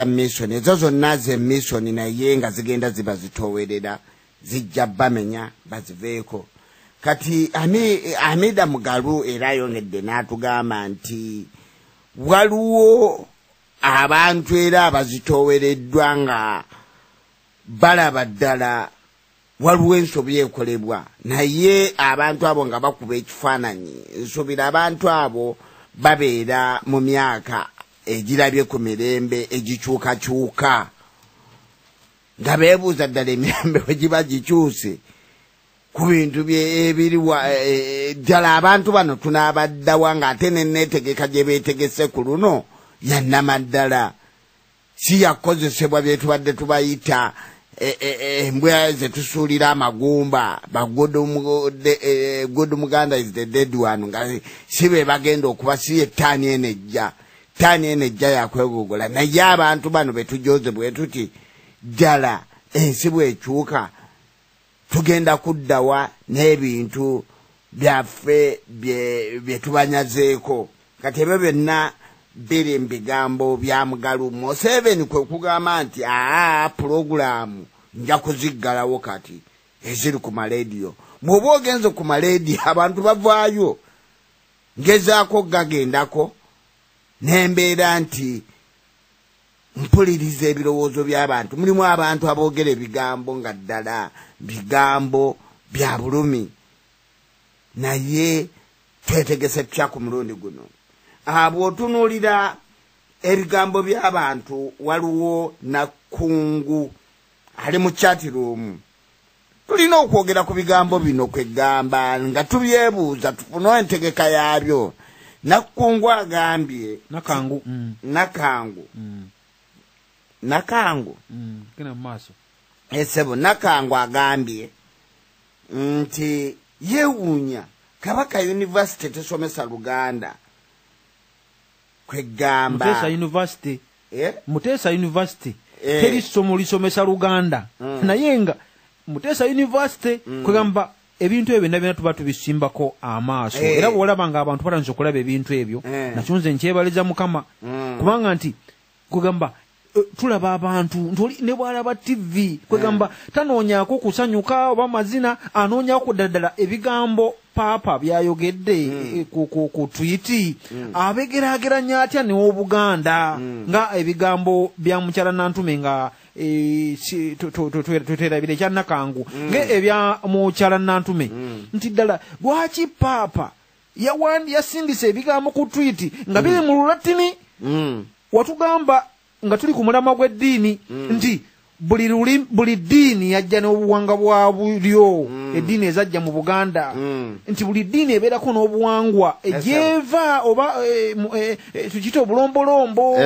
misoni ezo zonna ze misoni naye nga zigenda ziba zitowerera zijja bamenya baziveeko kati amida mugalu era ayongedde n'atugamba nti waliwo abantu era abazitowereddwa nga balaba ddala waliwo ensobi ekolebwa naye abantu abo nga bakuba ekifaananyi nsubira abantu abo babeera mu myaka egirabye ku mirembe egikyukakyuka nga beebuuza ddala emirembe we giba gikyuse ku bintu byebiriwa e, e, e, ddala abantu bano tunaabaddawa ng'ate neneetegeka gye beetegese ku luno yannamaddala si yakukozesebwa byetubadde tubayita e, e, e, embwa zetusuulira amagumba bagod muganda is the dead one nga si be bagenda okuba si yettaani eno ejja ttaani eno ejja yakwegogola naye abantu bano betujoze bwetuti ddala ensi bwekyuka tugenda kuddawa n'ebintu byaffe bye tubanyazeeko kati ebyo byonna biri mu bigambo bya mugalu museveni kwe kugamba nti aa pulogulaamu nja kuziggalawo kati eziri ku malediyo bw'oba ogenze ku malediyo abantu bavaayo ngezaako gagendako n'embeera nti mpuliriza ebirowoozo by'abantu mulimu abantu aboogera ebigambo nga ddala bigambo bya bulumi naye twetegese tutya ku mulundi guno bw'otunuulira ebigambo by'abantu waliwo nakungu ali mu chatiruumu tulina okwogera ku bigambo bino kweggamba nga tubyebuuza tufune entegeka yaabyo nakkungu agambye nakangu mm. nakangu mm. nakangu mm, genda mu maaso esebo eh, nakangu agambye nti yewuunya kabaka yunivasite tesomesa luganda kwegamba university eh? mutesa university eh. teri somo lisomesa luganda mm. naye nga mutesa university mm. kwegamba ebintu ebyo nabina tuba tubisimbako amaaso hey. Eh. era bwolaba nga abantu batanza okulaba ebintu ebyo hey. Eh. nakyo nze nkyebaliza mukama mm. kubanga nti kugamba Eh, tulaba abantu ntoli ne bwalaba tv kwegamba eh. tanoonyako kusanyuka oba mazina anoonyako kuddala ebigambo paapa byayogedde hmm. eh, ku twiti hmm. abegerageranya atya neobuganda hmm. nga ebigambo bya mukyala nantume nga tweterabira ekyanakangu nga ebya mukyala nantume nti ddala lwaki paapa yawandi yasindise ebigambo ku twiti nga biri mm. mu lulatini mm. watugamba nga tuli ku mulama gw'eddiini mm. nti buli luli buli ddiini yajja n'obuwanga bwa bulyo mm. eddiini ezajja mu buganda mm. nti buli ddiini ebeerako n'obuwangwa egyeva oba e, e, e, tukiyita obulombolombo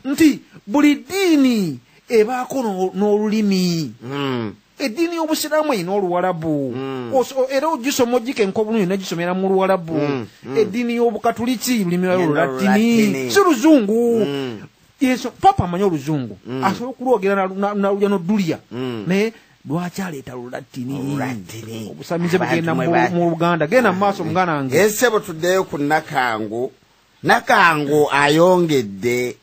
nti buli ddiini ebaako n'olulimi mm. eddiini y'obusiraamu erina oluwalabu mm. era ogisoma ogika enkobulungi negisomera mu luwalabu mm, mm. eddiini y'obukatuliki lulimirayo lulattini si luzungu yesu papa amanyi oluzungu mm. asobola okulwogera nalulya nodulia mm. naye lwaki aleeta lulattini obusamize bugenda mu luganda genda mu maaso muganda nge esebo tuddeyo ku nakangu nakangu ayongedde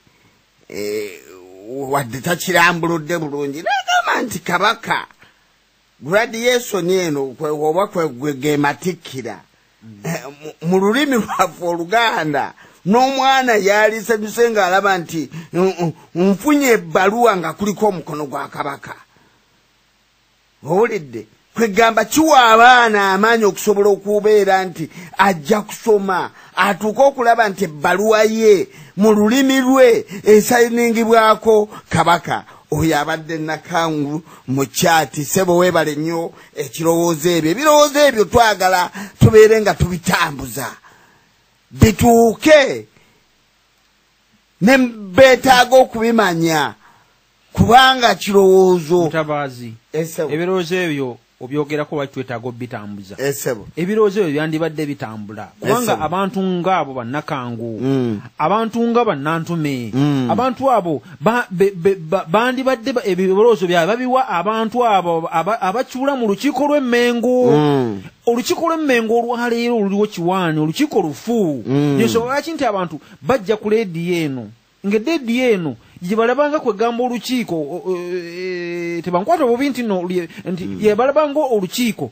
eh, wadde takirambuludde bulungi nagamba nti kabaka gradiyesoni eno oba kwegwegematikira mm. eh, mu lulimi lwaffe oluganda n'omwana yalisanyuse ng'alaba nti nfunye ebbaluwa nga kuliko omukono gwa kabaka owulidde kwegamba kiwa abaana amaanyi okusobola okubeera nti ajja kusoma atuuke okulaba nti ebbaluwa ye mu lulimi lwe esayiningibwako kabaka oyo abadde nakangu mu kyati sebo webale nnyo ekirowoozo ebyo ebirowoozo ebyo twagala tubeere nga tubitambuza bituuke ne beetaaga okubimanya kubanga kirowoozo mutabaazi ebirowoozo ebyo obyogerako lwaki twetaaga obitambuza ebirowoozo ebyo byandibadde bitambula kubanga abantu ngaabo bannakangu mm. abantu nga bannantume mm. abantu abo bandibadde ebirowoozo byabwe babiwa abantu abo abakiula mu lukiiko lw'emmengu mm. olukiiko lw'emmengo olwaleero oluliwo kiwaani olukiiko lufu nensonga lwaki nti abantu bajja ku leediyo eno ngededi eno gyebalabanga kwegamba olukiiko e, tebankwata obubi nti no nti hmm. yebalabanga olukiiko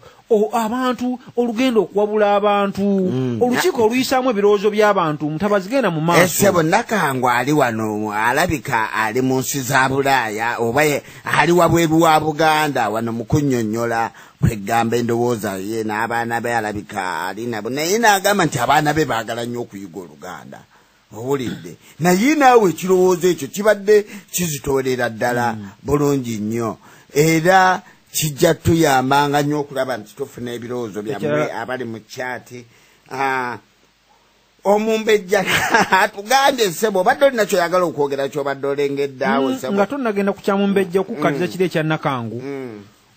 abantu olugenda okuwabula abantu hmm. olukiiko oluyisaamu ebirowoozo by'abantu mutabazigenda mu maasosebo eh, nakangu ali wano alabika ali mu nsi za bulaaya oba ali wabweru wa buganda wano mukunyonyola kwegamba endowooza ye n'abaana be alabika ali nabo naye naagamba nti abaana be baagala nnyo okuyiga oluganda owulidde naye naawe ekirowoozo ekyo kibadde kizitoolera ddala mm. bulungi nnyo era kijja tuyambanga nnyo okulaba nti tufuna ebirowoozo byammwe abali mu kyati ah, omumbejja atugambye ssebo obadde olina kyoyagala okwogera kyobadde olengeddeawo mm, nga tonagenda ku kyamumbejja okukukatiza mm. kiri ekyanakangu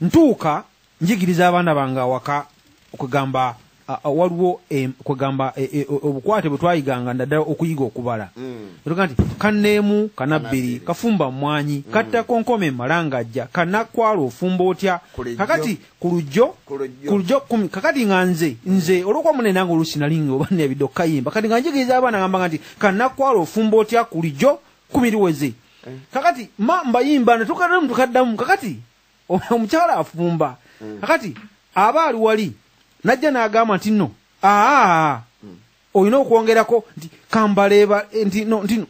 ntuuka njigiriza abaana bange awaka okwegamba waliwo e, kwegamba e, e, obukwate bwe twayiganga naddala okuyiga okubala mm. oga nti kaneemu kanabbiri kafumba mwanyi mm. kattakonkoma emalangajja kanakwala ofumba otya kakati ku lujjo ku lujjo kumi kakati nga nze nze olwokuba mune nange oluusi nali nga oba nebidde okukayimba kati nga njigiriza abaana gamba nga nti kanakwala ofumba otya ku lujjo kumi liweze eh. kakati ma mbayimba natukaddamu tukaddamu kakati omukyala afumba mm. akati aba ali wali najja n'agamba nti no aa mm. olina okwongerako nti kambaleeba eh, nti no nti no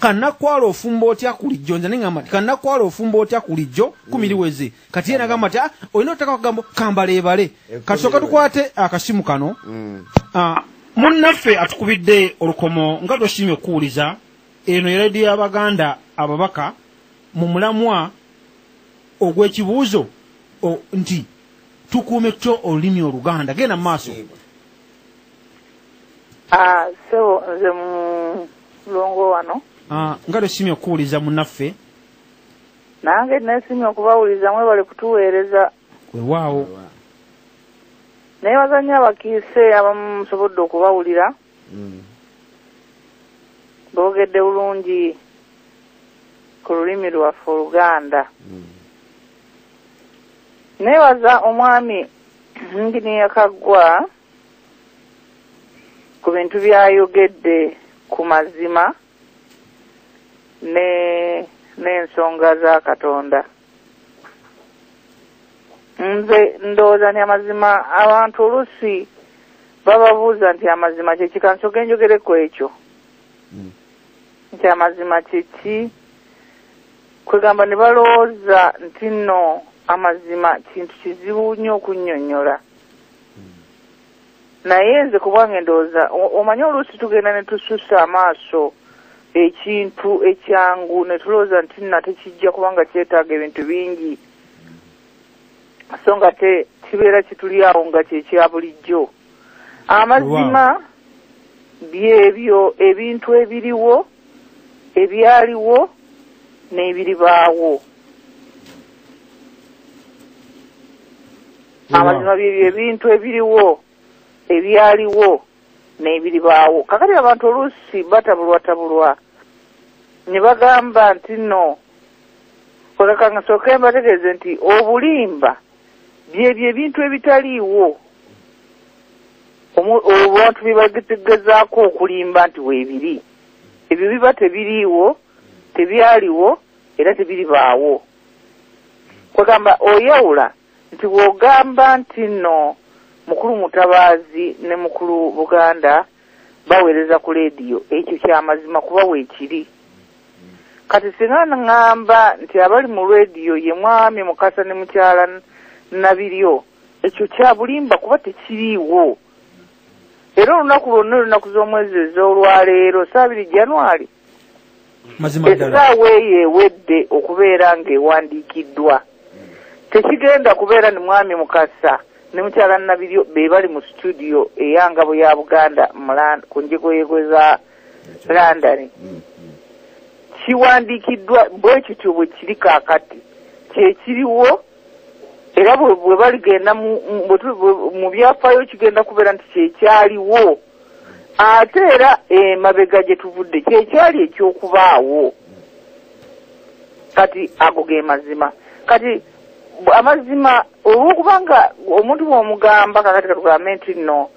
kanakwala ofumba otya kulijjo nze neŋamba nti kanakwala ofumba otya kulijjo kumiriweze mm. kati ye nagamba nti ah, olina otaka kugamba kambaleebale eh, kati soka tukwate akasimu kano ah, munnaffe atukubidde olukomo nga twesiimye okukuwuliza eno yalaidi y'abaganda ababaka mu mulamwa ogw'ekibuuzo nti tukuume tutya olulimi oluganda genda mu maaso ah, sebo nze mulongo wano ah, nga lwesimye okuwuliza munaffe nange nesimye okubawuliza mwebale kutuweereza wewaawo naye bazannyo abakiise abamu musobodde okubawulira mm. boogedde bulungi ku lulimi lwaffe oluganda mm. neebaza omwami nginiya kaggwa ku bintu byayogedde ku mazima ne n'ensonga za katonda nze ndowooza nti amazima abantu oluusi bababuuza nti amazima kyeki kansoke njogere ku ekyo hmm. nti amazima kyeki kwegamba ne balowooza nti nno amazima kintu kizibu nnyo okunnyonnyola naye nze kubwange ndowooza omanyi oluusi tugenda ne tususa amaaso ekintu ekyangu ne tulowooza nti nate kijja kubanga kyetaaga ebintu bingi so nga te kibeera kituli awo nga kyekya bulijjo amazima byebyo ebintu ebiriwo ebyaliwo n'ebiribaawo amazima bye byebintu ebiriwo ebyaliwo n'ebiribaawo kakati abantu oluusi batabulwatabulwa ne bagamba nti nno oleka nga sooke mbategeeze nti obulimba byebyo ebintu ebitaliiwo abantu bye bagezaako okulimba nti weebiri ebyo biba tebiriiwo tebyaliwo era tebiribaawo kwegamba oyawula Nti bwogamba nti no mukulu mutabaazi ne mukulu buganda bawereza ku leediyo ekyo kyamazima kuba wekiri kati singa ngamba nti abali mu leediyo ye mwami mukasa ne mukyala nabiryo ekyo kyabulimba kuba tekiriiwo era olunaku lwonna olunaku z'omwezi ez'olwaleero saabiri january essaawa eyo ewedde okubeera ng'ewandiikiddwa tekigenda kubeera ni mwami mukasa ne mukyala nabiryo be bali mu situdiyo eyangabo ya buganda ku njegoyego za landani mm, mm. kiwandiikiddwa bwe kityo bwe kiri kaakati kyekiriwo era bwe baligenda mu byafaayo kigenda kubeera nti kyekyaliwo ate era emabega eh, gye tuvudde kyekyali ekyokubaawo kati ago ge mazima kati amazima olwokuba nga omuntu bwomugamba kakati katugambe nti no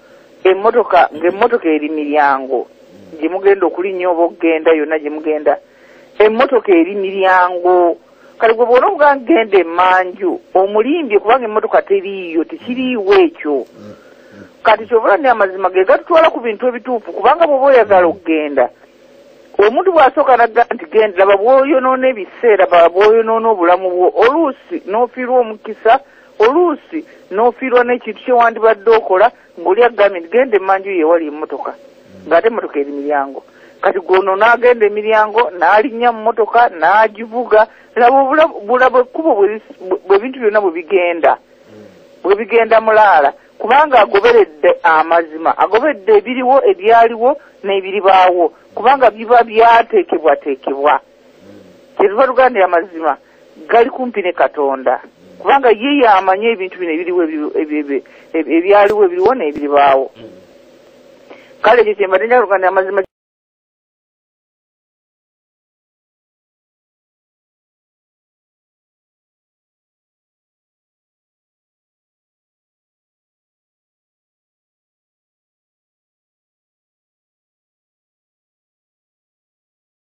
emotoka ngaemotoka eri miryango gyemugenda okulinya oba okugenda yonna gyemugenda mm. emmotoka eri miryango kale gwe bwona omugaa genda emanju omulimbye kubanga emmotoka teriiyo tekiriiwo ekyo kati kyovula ni amazima ge gatutwala ku bintu ebituufu kubanga bwoba oyagala okugenda omuntu bwasooka nagga nti genda laba bwoyonoona ebiseera ba bwoyonoona obulamu bwo oluusi n'ofiirwa omukisa oluusi n'ofiirwa n'ekintu kyewandibadde okola ngoli agambye nti genda emanju ye ewali emotoka ngaate emotoka eri miryango kati gwono n'agenda emiryango n'alinnya mu motoka n'agivuga laba obulabo ekkubo bwebintu byonna bwe bigenda bwe bigenda mulaala kubanga agoberedde amazima agoberedde ebiriwo ebyaliwo n'ebiribaawo kubanga biba byateekebwateekebwa kyetuva tugambye amazima gali kumpi ne katonda kubanga ye yamanye ebintu bino ebiriwo ebyaliwo ebiriwo n'ebiribaawo kale ekyo kyembadde njaluganira amazima